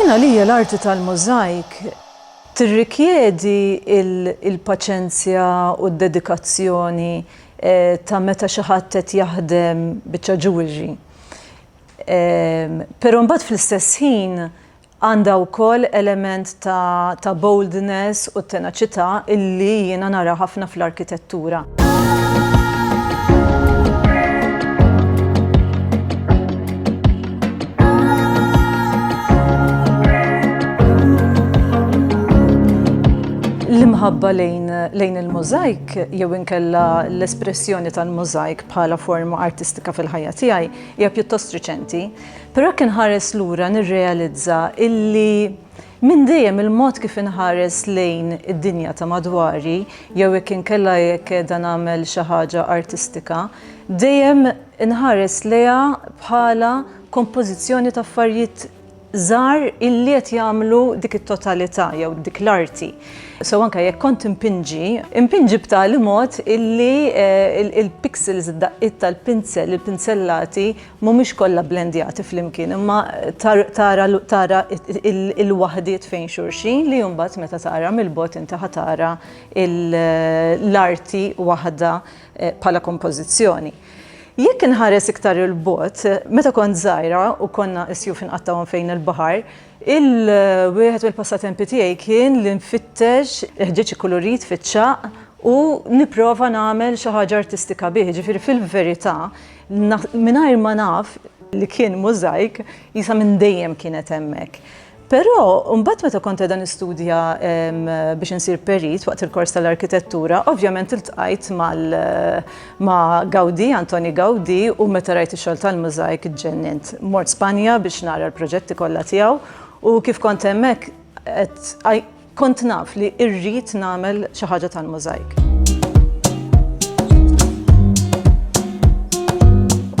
Jien għalija l-arti tal-mużajk tirrikjedi l-paċenzja u d-dedikazzjoni ta' meta xi ħadd qed jaħdem biċċa ġuwelry. Però mbagħad fl-istess ħin Għandha wkoll element ta' ta' boldness u tenaċità illi jiena nara ħafna fl-arkitettura. L-imħabba lejn lejn il-mużajk jew inkella l-espressjoni tal-mużajk bħala forma artistika fil-ħajja tiegħi hija pjuttost riċenti. Però jekk inħares lura nirrealizza illi minn dejjem il-mod kif inħares lejn id-dinja ta' madwari jew jekk inkella jekk qiegħda nagħmel xi ħaġa artistika, dejjem inħares lejha bħala kompożizzjoni ta' affarijiet żgħar illi qed jagħmlu dik it-totalità jew dik l-arti. So anke jekk kont impinġi, impinġi b'tali mod illi il-pixels, id-daqqiet tal-pinzel, il-pinzellati Mhumiex kollha bblendjati flimkien imma tara l-waħdiet fejn xulxin li mbagħad meta tara mill-bogħod inti ħa tara l-arti waħda bħala kompożizzjoni. Jekk inħares iktar 'il bogħod, meta kont żgħira u konna s-sjuf inqattgħu hemm fejn il-baħar, wieħed mill-passatempi tiegħi kien li nfittex il-ħġieġ ikkulurit fiċ-ċagħaq u nipprova nagħmel xi ħaġa artistika bih. Jiġifieri fil-verità Mingħajr ma naf li kien mużajk, jisa minn dejjem kienet hemmhekk. Però mbagħad meta kont qegħda nistudja biex insir perit waqt il-kors tal-arkitettura, ovvjament iltqajt mal ma' Gaudi, Antoni Gaudi, u meta rajt ix-xogħol tal-mużajk ġġennint. Mort Spanja biex nara l-proġetti kollha tiegħu u kif kont hemmhekk qed Kont naf li irrid nagħmel xi ħaġa tal-mużajk.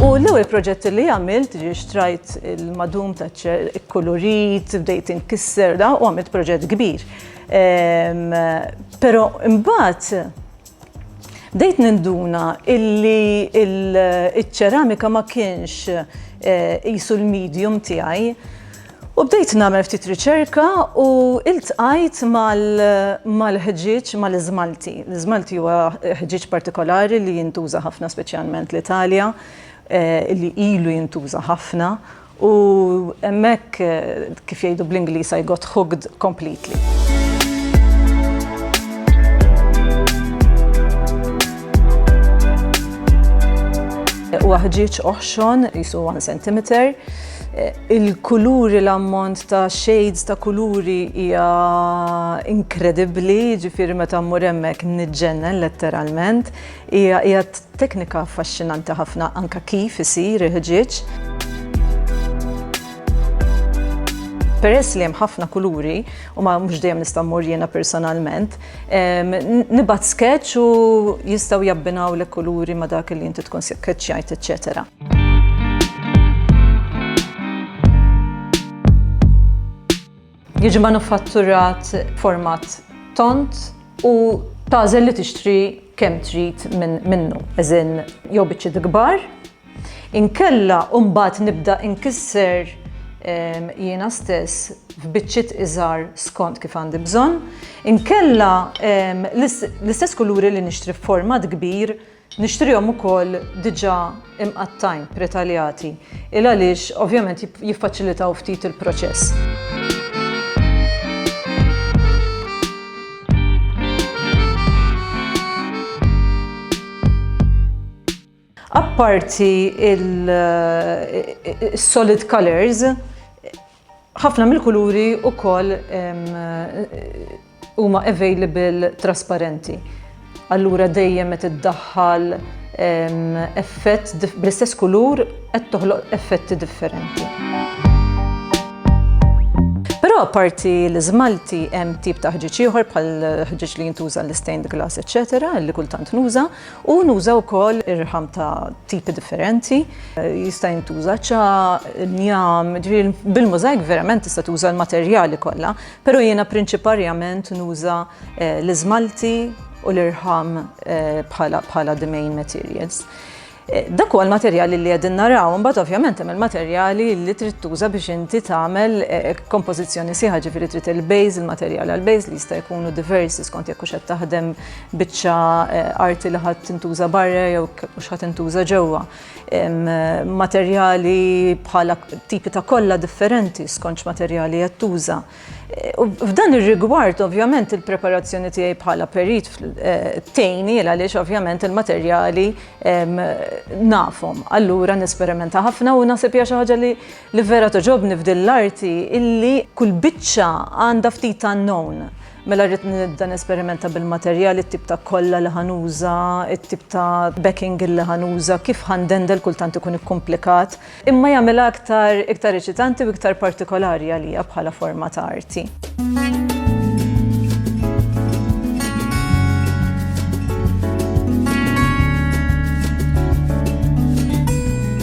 U l-ewwel proġett li għamilt ġi xtrajt il-madum ta' ċer ikkulurit, bdejt inkisser da u għamilt proġett kbir. Ehm, però imbagħad Bdejt ninduna illi iċ-ċeramika ma kienx qisu l-medium tiegħi u bdejt nagħmel ftit riċerka u iltqajt mal-ħġieġ, mal-iżmalti. L-iżmalti huwa ħġieġ partikolari li jintuża ħafna speċjalment l-Italja, li ilu jintuża ħafna U hemmhekk, kif jgħidu bl-Ingliż, I got hooked completely. Huwa ħġieġ oħxon, jisu 1 cm. Il-kuluri l-ammont ta' shades ta' kuluri hija inkredibbli, ġifieri meta mmur hemmhekk niġġennen letteralment. Hija hija teknika affaxxinanti ħafna anke kif isir il-ħġieġ. Peress li hemm ħafna kuluri u ma mhux dejjem nista' mmur jiena personalment, nibgħat sketch u jistgħu jabbinaw l kuluri ma dak li inti tkun sketchjajt, eċċetera. Jiġi manufatturat b'format tond u tagħżel li tixtri kemm trid minnu, as in jew biċċiet kbar, inkella u mbagħad nibda inkisser ehm, jiena stess f'biċċiet iżgħar skont kif għandi bżonn, inkella ehm, l-istess kuluri li nixtri f'format kbir Nixtrihom ukoll diġà imqattgħin, pretaljati, il għaliex ovvjament jiffaċilitaw ftit il-proċess. Apparti il-solid colors, Ħafna mill-kuluri wkoll huma available trasparenti. Allura dejjem qed iddaħħal effett bl-istess kulur qed toħloq effetti differenti. Però apparti l-iżmalti hemm tip ta' ħġieġ ieħor bħal ħġieġ li jintuża l-istained glass eċċetera li kultant nuża U nuża wkoll ir-riħam ta' tipi differenti, jista' jintuża ċa, njam, ġifieri bil-mużajk verament tista' tuża l-materjali kollha, però jiena prinċiparjament nuża eh, l-iżmalti u l-irħam eh, bħala bħala the main materials. Eh, dak huwa l-materjali li qegħdin naraw, imbagħad ovvjament hemm il-materjali li trid tuża biex inti tagħmel kompożizzjoni sieħa ġifieri trid il-bejż, il-materjal għall-bejż li jista' jkunu diversi skont jekk hux qed taħdem biċċa arti li ħadd tintuża barra jew mhux ħadd tintuża ġewwa. Materjali bħala tipi ta' kollha differenti skonċ materjali qed tuża. F'dan ir-rigward, ovvjament, il-preparazzjoni tiegħi bħala perit eh, tejni għaliex ovvjament il-materjali nafhom. Allura nesperimenta ħafna u naħseb hija xi ħaġa li vera toġobni f'din l-arti illi kull biċċa għandha ftit unknown. Mela rrid nibda nesperimenta bil-materjal, it-tip ta' kolla li ħa nuża, it-tip ta' backing li ħa nuża, kif ħa ndendel kultant ikun ikkumplikat, imma jagħmilha aktar iktar eċitanti u iktar partikolari għalija bħala forma ta' arti.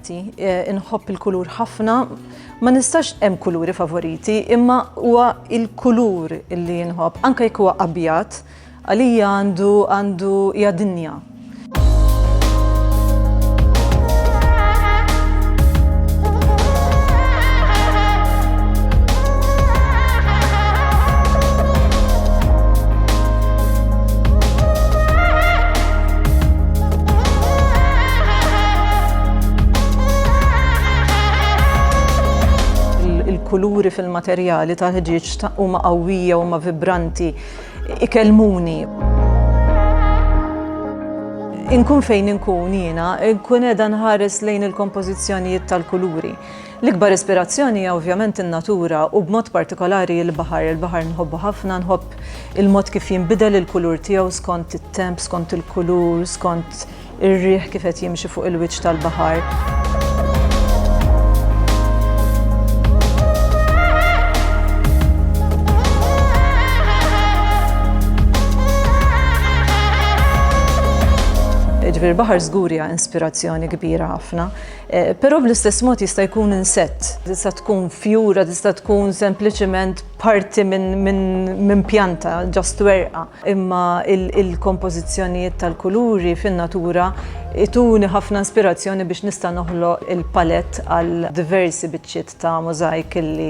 Grazzi, inħobb il-kulur ħafna, ma nistax hemm kuluri favoriti, imma huwa il-kulur li inħobb, anke jekk huwa abjad, għalija għandu għandu hija dinja. il-kuluri fil-materjali tal-ħġieġ huma qawwija u huma vibranti ikellmuni. Inkun fejn inkun jiena, inkun qiegħda nħares lejn il-kompożizzjonijiet tal-kuluri. L-ikbar ispirazzjoni hija ovvjament in-natura u b'mod partikolari il-baħar. Il-baħar nħobbu ħafna, nħobb il-mod kif jinbidel il-kulur tiegħu skont it-temp, skont il-kulur, skont ir-riħ kif qed jimxi fuq il-wiċċ tal-baħar. Ġifieri l-baħar żgur hija inspirazzjoni kbira ħafna. Però bl-istess mod jista' jkun insett, tista' tkun fjura, tista' tkun sempliċement parti minn pjanta, ġast werqa. Imma il-kompożizzjonijiet tal-kuluri fin-natura jtuni ħafna inspirazzjoni biex nista' noħloq il-palett għal diversi biċċiet ta' mużajk li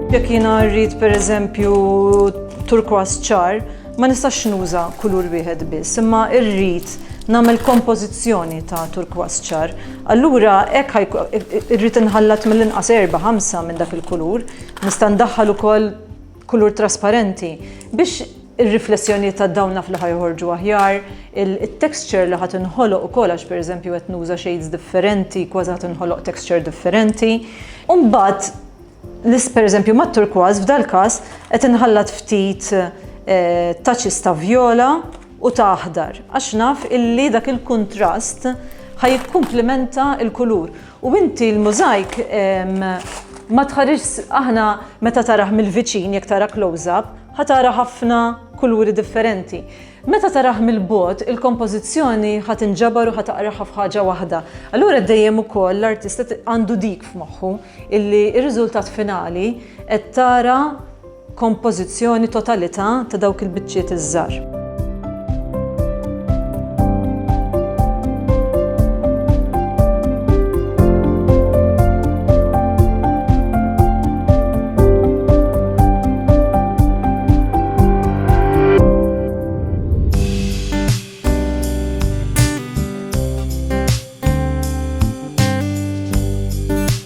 Jekk jiena rrid pereżempju turkwas ċar, ma nistax nuża kulur wieħed biss, imma rrid nagħmel kompożizzjoni ta' turkwas ċar. Allura hekk irrid inħallat mill-inqas erbgħa, ħamsa minn dak il-kulur. Nista' ndaħħal ukoll kulur trasparenti biex ir-riflessjonijiet ta' dawn naf li ħa joħorġu aħjar, it-texture li ħa tinħoloq ukoll għax pereżempju qed nuża shades differenti kważi ħa tinħoloq texture differenti. U mbagħad L-is, pereżempju, mat-turkważ f'dal-każ qed inħallat ftit touches ta' vjola u ta' aħdar għax naf illi dak il-kuntrast ħa jikkumplimenta l-kulur. U inti l-mużajk ma tħarisx, aħna meta tarah mill-viċin, jekk tara close-up, ħa tara ħafna kuluri differenti. Meta tarah mill-bogħod, il-kompożizzjoni ħa tinġabar u ħa taqraha f'ħaġa waħda. Allura dejjem ukoll l-artista għandu dik f'moħħu illi r-riżultat finali qed tara kompożizzjoni totalità ta' dawk il-biċċiet iż-żgħar.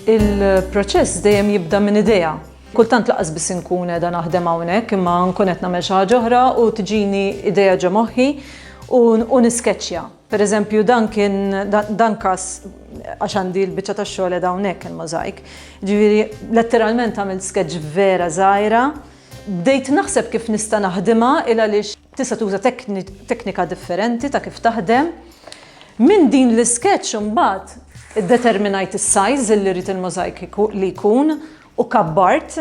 Il-proċess dejjem jibda minn idea. Kultant laqas biss inkun qiegħda naħdem hawnhekk imma nkun qed nagħmel xi ħaġa oħra u tiġini idea ġo moħħi u niskeċċja. Per eżempju, dan kien, dan każ, għax għandi l-biċċa tax-xogħol qiegħda hawnhekk il-możajk. Ġifieri, letteralment għamilt sketch vera żgħira. Bdejt naħseb kif nista' naħdimha il għaliex tista' tuża teknika differenti ta' kif taħdem. Minn din l-isketch imbagħad iddeterminajt is-size li rrid il-możajk li jkun u kabbart.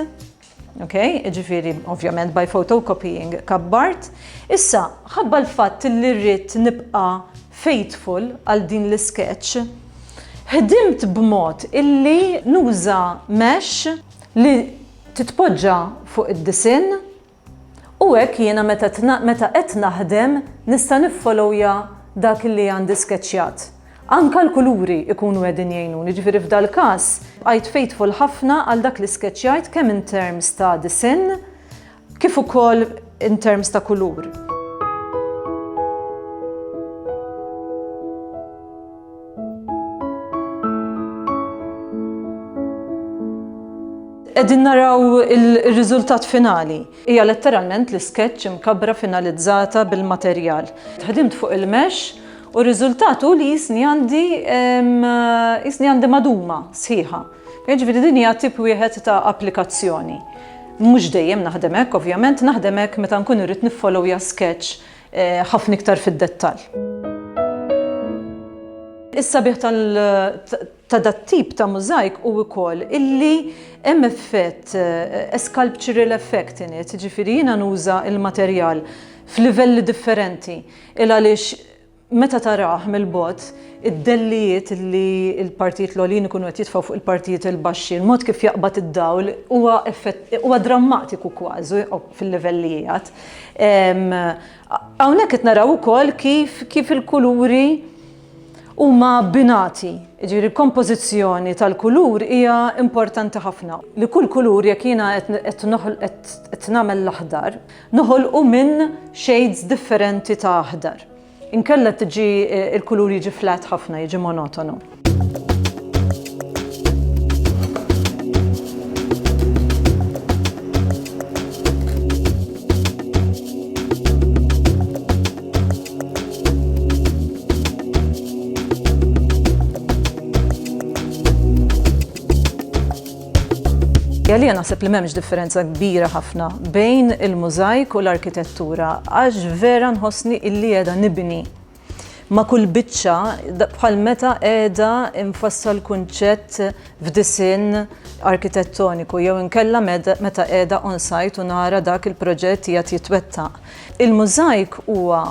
Okej, jiġifieri ovvjament by photocopying kabbart. Issa, ħabba l-fatt li rrid nibqa' faithful għal din l-isketch, ħdimt b'mod illi nuża mesh li titpoġġa fuq id-disinn u hekk jiena meta qed naħdem nista' niffolowja dak li għandi skeċċjat. Anke l-kuluri jkunu qegħdin jgħinuni, jiġifieri f'dal-każ bqajt faithful ħafna għal dak li skeċċjajt kemm in terms ta' disinn kif ukoll in terms ta' kulur. Qegħdin naraw ir-riżultat finali. Hija letteralment l-iskeċċ imkabbra finalizzata bil-materjal. Ħdimt fuq il-mesh u r-riżultat hu li jisni għandi jisni għandi maduma sħiħa. Jiġifieri din hija tip wieħed ta' applikazzjoni. Mhux dejjem naħdem hekk ovvjament, naħdem hekk meta nkun irrid niffolowja skeċċ ħafna iktar fid-dettall. Is-sabiħ tal ta' dat-tip ta' mużajk hu wkoll illi hemm effett, a sculptural effect in it, jiġifieri jiena nuża l-materjal f'livelli differenti, il-għaliex meta tarah mill-bogħod, id-dellijiet illi l-partijiet l-għoljin ikunu qed jitfgħu fuq il-partijiet il-baxxi, il-mod kif jaqbad id-dawl huwa effett, huwa drammatiku kważi fil-livell li qiegħed. Hawnhekk qed naraw ukoll kif kif il-kuluri, huma abbinati, jiġifieri l-kompożizzjoni tal-kulur hija importanti ħafna. Li kull kulur jekk jiena qed qed nagħmel l-aħdar, noħolqu minn shades differenti ta' aħdar. Inkella tiġi l-kulur jiġi flat ħafna, jiġi monotonu. Għalija naħseb li m'hemmx differenza kbira ħafna bejn il-mużajk u l-arkitettura għax vera nħossni illi qiegħda nibni ma kull biċċa bħal meta qiegħda infassal kunċett f'disin arkitettoniku jew inkella meta qiegħda on site u nara dak il-proġett jgħat jitwettaq. Il-mużajk huwa,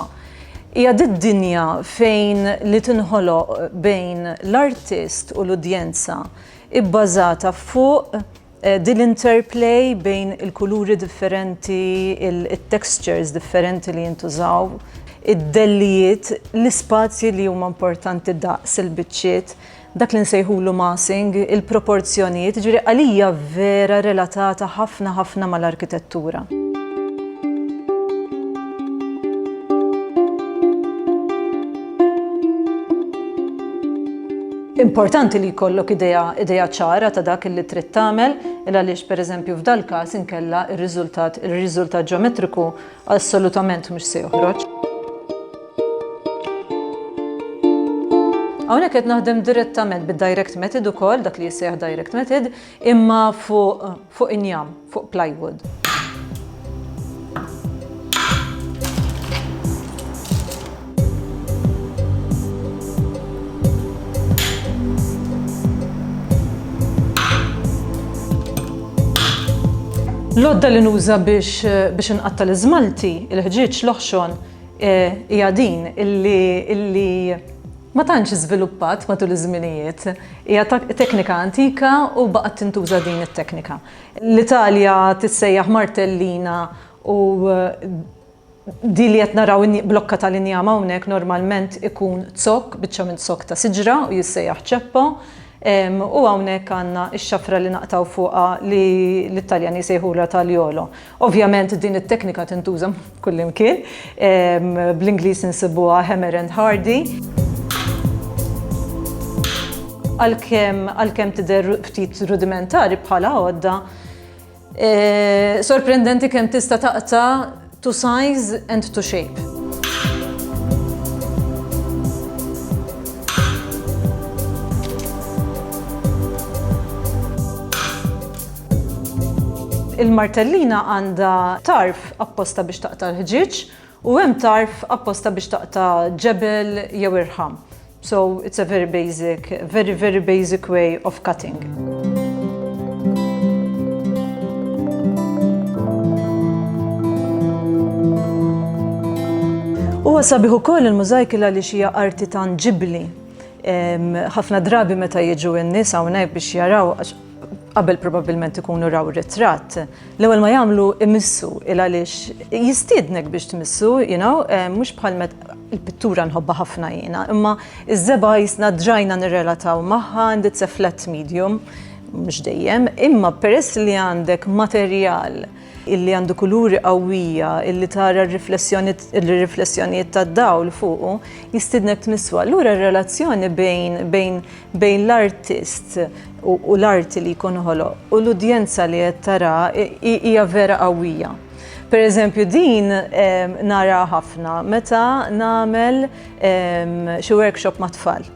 hija dik dinja fejn li tinħoloq bejn l-artist u l-udjenza, ibbażata fuq din l-interplay bejn il-kuluri differenti, it-textures differenti li jintużaw, id-dellijiet, l-ispazji li huma importanti daqs il-biċċiet. dak li nsejħulu massing, il-proporzjonijiet, jiġifieri għalija vera relatata ħafna ħafna mal-arkitettura. Importanti li jkollok idea idea ċara ta' dak li trid tagħmel, il għaliex pereżempju f'dal-każ inkella r-riżultat ir-riżultat ġeometriku Assolutament mhux se joħroġ. Hawnhekk qed naħdem direttament bid-direct method ukoll dak li jissejjaħ direct method imma fuq fuq injam, fuq plywood. L-għodda li nuża biex biex inqatta' l-iżmalti, il-ħġieġ, l-oħxon, eh, hija din illi illi ma tantx iżviluppat matul iż-żminijiet. Hija teknika antika u baqgħet tintuża din it-teknika. L-Italja tissejjaħ martellina u eh, Din li qed naraw blokka tal-injam hawnhekk normalment ikun zokk, biċċa minn zokk ta' siġra u jissejjaħ ċeppo. U hawnhekk għandna x-xafra li naqtgħu fuqha li l-Italjani jsejħulha tagliolo. Ovvjament din it-teknika tintuża kullimkien. Bl-Ingliż insibuha hammer and hardy. Għalkemm tidher ftit rudimentari bħala għodda, Sorprendenti kemm tista' taqta' to size and to shape. Il-martellina għandha tarf apposta biex taqta' l-ħġieġ U hemm tarf apposta biex taqta' ġebel jew irħam. So it's a very basic, very very basic way of cutting. Huwa sabiħ ukoll il-mużajkil għaliex hija arti tanġibbli. Ħafna drabi meta jiġu n-nies hawnhekk biex jaraw qabel probabbilment ikunu raw ritratt, l-ewwel ma jagħmlu imissu il għaliex jistiednek biex tmissu, you know, eh, mhux bħal met il-pittura nħobba ħafna jiena, imma iż-żeba jisna drajna nirrelataw magħha għandi tseflet medium, mhux dejjem, imma peress li għandek materjal illi għandu kuluri qawwija, illi tara r-riflessjonijiet tad-dawl fuqu, jistidnek tmisswa. Allura r-relazzjoni bejn, bejn, bejn l-artist u, u l-arti li jkun ħoloq u l-udjenza li qed tara hija vera qawwija. Per eżempju, din nara ħafna meta nagħmel xi workshop mat-tfal.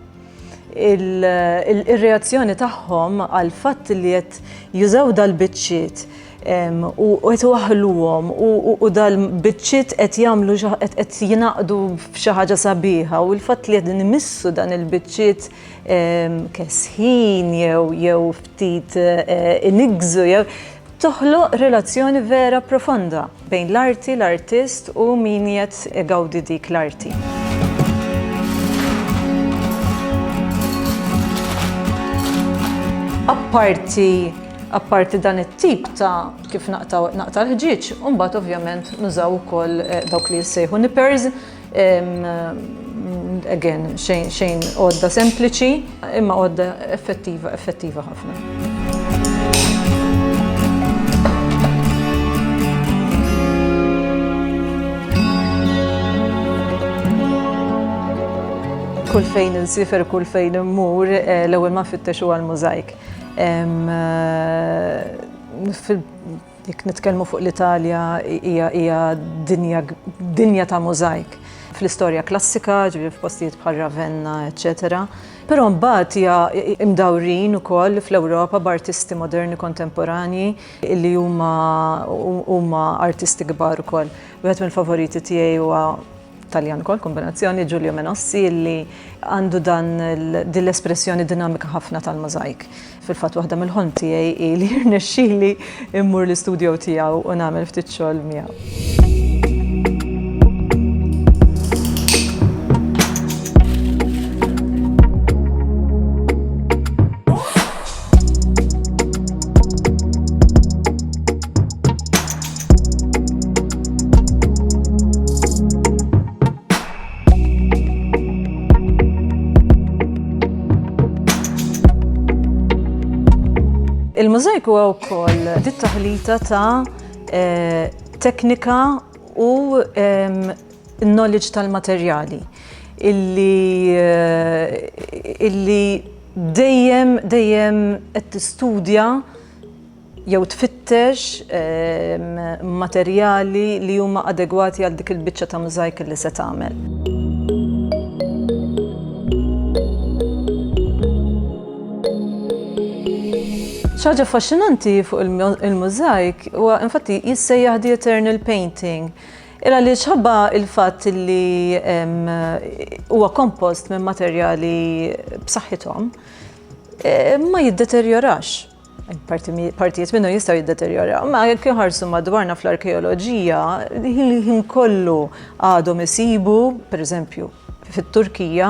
Ir-reazzjoni tagħhom għal fatt li qed jużaw dal-biċċiet u qed waħluhom u dal-biċċiet qed jagħmlu qed jingħaqdu f'xi ħaġa sabiħa u l-fatt li qed nimissu dan il-biċċiet kesħin jew jew ftit inigżu jew Toħloq relazzjoni vera profonda bejn l-arti, l-artist u min qiegħed igawdi dik l-arti. apparti apparti dan it-tip ta' kif naqta' l-ħġieġ, mbagħad ovvjament nużaw ukoll eh, dawk li jissejħu nippers Again, xejn għodda sempliċi, imma għodda effettiva, effettiva ħafna. kull fejn il-sifer, kull fejn immur, eh, l-ewwel ma fittex huwa l-mużajk. Eh, Jekk nitkellmu fuq l-Italja hija hija dinja dinja ta' mużajk fl-istorja klassika, ġifieri f'postijiet bħal Ravenna, eċċetera. Però mbagħad hija imdawrin ukoll fl-Ewropa b'artisti moderni kontemporanji li huma huma artisti kbar ukoll. Wieħed mill-favoriti tiegħi huwa Taljan ukoll, kombinazzjoni, Giulio Menossi, li għandu dan din l-espressjoni dinamika ħafna tal-możajk. Fil-fatt waħda mill-ħolm tiegħi hi li jirnexxili immur l-istudjo tiegħu u nagħmel ftit xogħol miegħu. Il-mużajk huwa wkoll dit taħlita ta' eh, teknika u knowledge tal-materjali illi eh, illi dejjem dejjem qed tistudja jew tfittex materjali li huma adegwati għal dik il-biċċa ta' mużajk li se tagħmel. ċaġa faxxinanti fuq il-mużajk u infatti jissejjaħ the eternal painting. Ira li ċħabba il-fat li huwa kompost minn materjali b'saħħithom e, ma jiddeterjorax. Partijiet minnu jistaw jiddeterjoraw. Ma jekk jħarsu madwarna fl-arkeoloġija, ħin kollu għadhom isibu, per eżempju, fit-Turkija,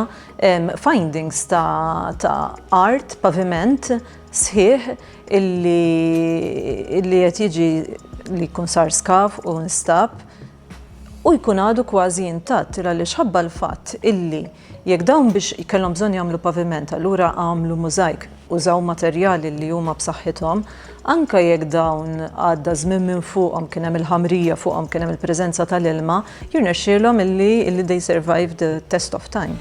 findings ta' art, paviment, sħiħ illi qed jiġi li jkun sar skav u nstab. u jkun għadu kważi intatt il għaliex ħabba l-fatt illi jekk dawn biex kellhom bżonn jagħmlu paviment allura għamlu mużajk, użaw materjali li huma b'saħħithom, anke jekk dawn għadda żmien minn fuqhom kien hemm il-ħamrija fuqhom kien hemm il-preżenza tal-ilma, jirnexxielhom illi illi they survived the test of time.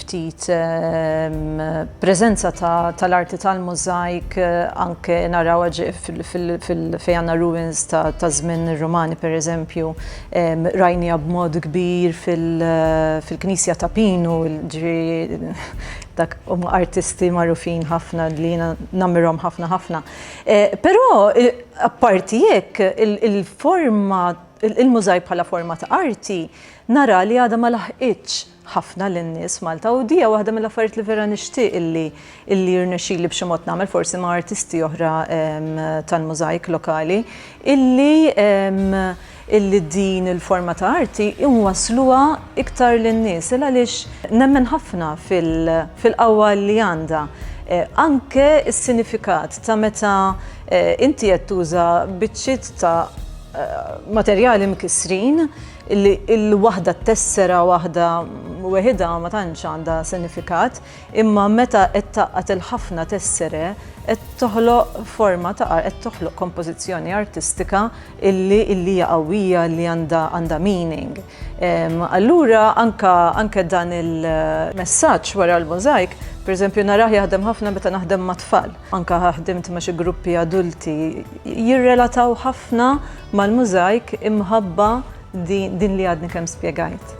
ftit preżenza tal-arti tal-mużajk anke narawha fejn għandna ruins ta' żmien ir-Rumani pereżempju, rajniha b'mod kbir fil-knisja ta' Pinu, jiġifieri dak huma artisti magħrufin ħafna li jiena nammirhom ħafna ħafna. Però apparti hekk il-forma, il-mużajk bħala forma ta' arti nara li għadha ma laħqitx ħafna lin-nies Malta u dija waħda mill-affarijiet li vera nixtieq illi illi jirnexxili b'xi mod nagħmel forsi ma' artisti oħra tal-mużajk lokali illi illi din il-forma ta' arti inwassluha iktar lin-nies il għaliex nemmen ħafna fil-qawwa li għandha anke s-sinifikat ta' meta inti qed tuża biċċiet ta' materjali mkissrin, li l-waħda t-tessera waħda weħidha ma tantx għandha sinifikat, imma meta qed tgħaqqad il-ħafna tessere qed toħloq forma ta' art, qed toħloq kompożizzjoni artistika illi illi hija qawwija illi għandha għandha meaning. Allura anke anke dan il-messaġġ wara l-mużajk, pereżempju narah jaħdem ħafna meta naħdem mat-tfal. Anke ħdimt ma' xi gruppi adulti, jirrelataw ħafna mal-mużajk imħabba din li għadni kemm spjegajt.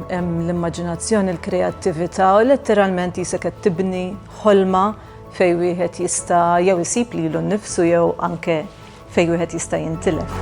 Hemm l-immaġinazzjoni, l-kreattività u letteralment jisek qed tibni ħolma fejn wieħed jista' jew isib lilu nnifsu jew anke fejn wieħed jista' jintilef.